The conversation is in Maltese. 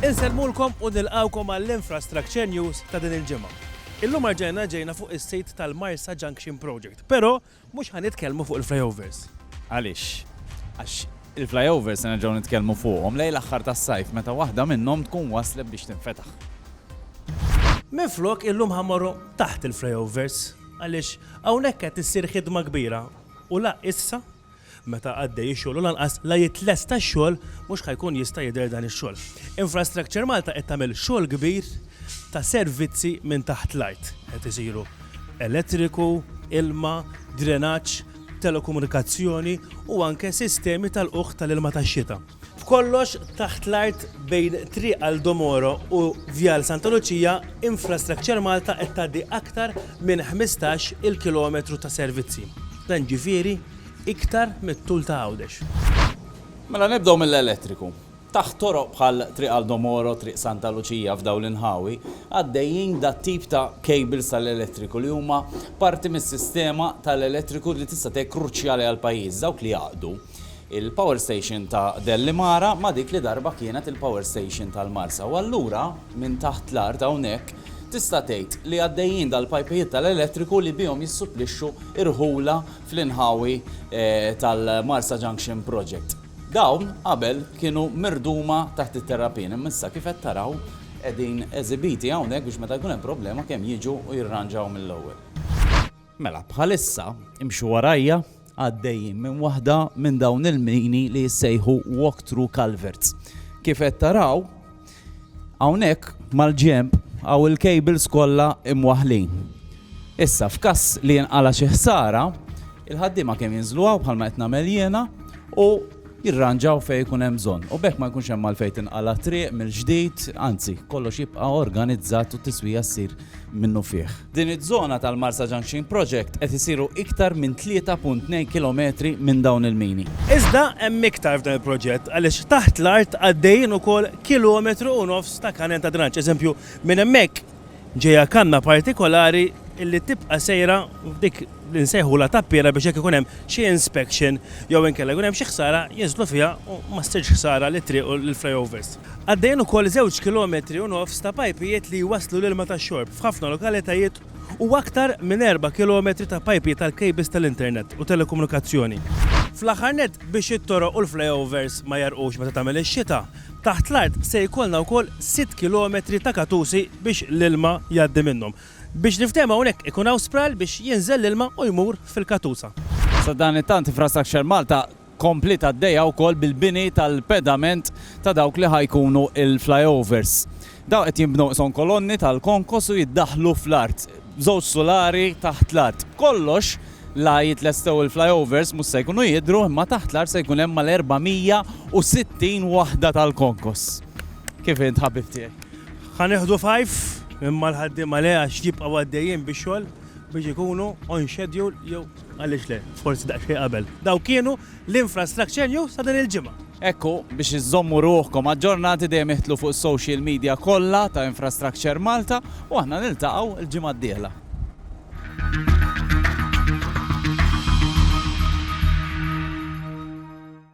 Insellmulkom u nilqgħukom għall-Infrastructure News ta' din il-ġimgħa. Illum erġajna ġejna fuq is-sit tal-Marsa Junction Project, però mhux ħa nitkellmu fuq il-flyovers. Għaliex? Għax il-flyovers se nerġgħu nitkellmu fuqhom lejn l-aħħar tas-sajf meta waħda minnhom tkun waslet biex tinfetaħ. Minflok illum ħa mmorru taħt il-flyovers għaliex hawnhekk qed issir ħidma kbira u la issa Meta għaddej ix-xogħol u lanqas la jitlest tax-xogħol mhux ħa jkun jista' jidher dan ix-xogħol. Infrastructure Malta qed tagħmel xogħol kbir ta' servizzi minn taħt l-art. Qed isiru elettriku, ilma, drenaġġ, telekomunikazzjoni u anke sistemi tal-qugħ tal-ilma tax-xita. F'kollox, taħt l-art bejn Triq Aldo Moro u Vjal Santa Luċija, Infrastructure Malta qed tgħaddi aktar minn ħmistax il kilometru ta' servizzi. Dan ġifieri iktar mit-tul ta' Għawdex. Mela nibdew mill-elettriku. Taħt toroq bħal Triq Aldo Moro, Triq Santa Luċija f'dawn l-inħawi, għaddejjin dat-tip ta' cables tal-elettriku li huma parti mis-sistema tal-elettriku li tista' tgħid kruċjali għall-pajjiż, dawk li jgħaqqdu. Il-power station ta' Dellimara ma' dik li darba kienet il-power station tal-Marsa u allura minn taħt l-art hawnhekk tista' tgħid li għaddejjin dal-pajpijiet tal-elettriku li bihom jissupplixxu rħula fl-inħawi tal-Marsa Junction Project. Dawn qabel kienu mirduma taħt it-terrapien imma issa kif qed taraw qegħdin eżibiti hawnhekk biex meta jkun hemm problema kemm jiġu u jirranġaw mill-ewwel. Mela, bħalissa, imxu warajja, għaddejjin minn waħda minn dawn il-mini li jissejħu Walk Through Culverts. Kif qed taraw, hawnhekk mal-ġemp għaw il-cables kollha imwaħlin. Issa f'każ li jinqala xi ħsara, il-ħaddiema kemm jinżlu għaw bħalma qed nagħmel jiena u jirranġaw fejn ikun hemm bżonn u b'hekk ma jkunx hemm għalfejn tinqala' triq mill-ġdid, anzi, kollox jibqa' organizzat u t-tiswija ssir minnufih. Din iż-żona tal-Marsa Junction Project qed isiru iktar minn 3.2 kilometri minn dawn il-mini. Iżda hemm iktar f'dan il-proġett għaliex taħt l-art għaddejjin ukoll kilometru u nofs ta' kanal ta' drenanġġ. Eżempju, minn hemmhekk ġejja kanna partikolari li tibqa' sejra f'dik li nsejħulha tappiera biex jekk ikun hemm xi inspection jew inkella jkun hemm xi ħsara jinżlu fiha u ma ssirx ħsara lit-triq u lill-flyovers. Għaddejjin ukoll żewġ kilometri u nofs ta' pajpijiet li jwasslu l-ilma tax-xorb f'ħafna lokalitajiet u aktar minn erba' kilometri ta' pajpijiet għall-kejbils tal-internet u telekomunikazzjoni. Fl-aħħar nett, biex it-toroq u l-flyovers ma jegħrqux meta tagħmel ix-xita, Taħt l-art se jkollna wkoll sitt kilometri ta' katusi biex l-ilma jgħaddi minnhom. Biex niftehmu hawnhekk ikun hawn spral biex jinżel l-ilma u jmur fil-katusa. Sadanittant Infrastructure Malta kompliet għaddejja wkoll bil-bini tal-pedament ta' dawk li ħa jkunu l-flyovers. Dawn qed jinbnew qishom kolonni tal-konkos u jiddaħħlu fl-art, b'żewġ sulari taħt l-art. B'kollox, la jitlestew il-flyovers mhux se jkunu jidhru imma taħt l-art se jkun hemm mal-460 waħda tal-konkos. Kif int ħabib tiegħi? Ħa nieħdu fajf, imma l-ħaddiema le għax jibqgħu għaddejjin bix-xogħol biex ikunu on schedule jew għaliex le, forsi daqsxejn qabel. Dawk kienu. l-Infrastructure News ta' din il-ġimgħa. Hekk hu, biex iżżommu ruħkom aġġornati dejjem iħtlu fuq is-social media kollha ta' Infrastructure Malta u aħna niltaqgħu l-ġimgħa d-dieħla.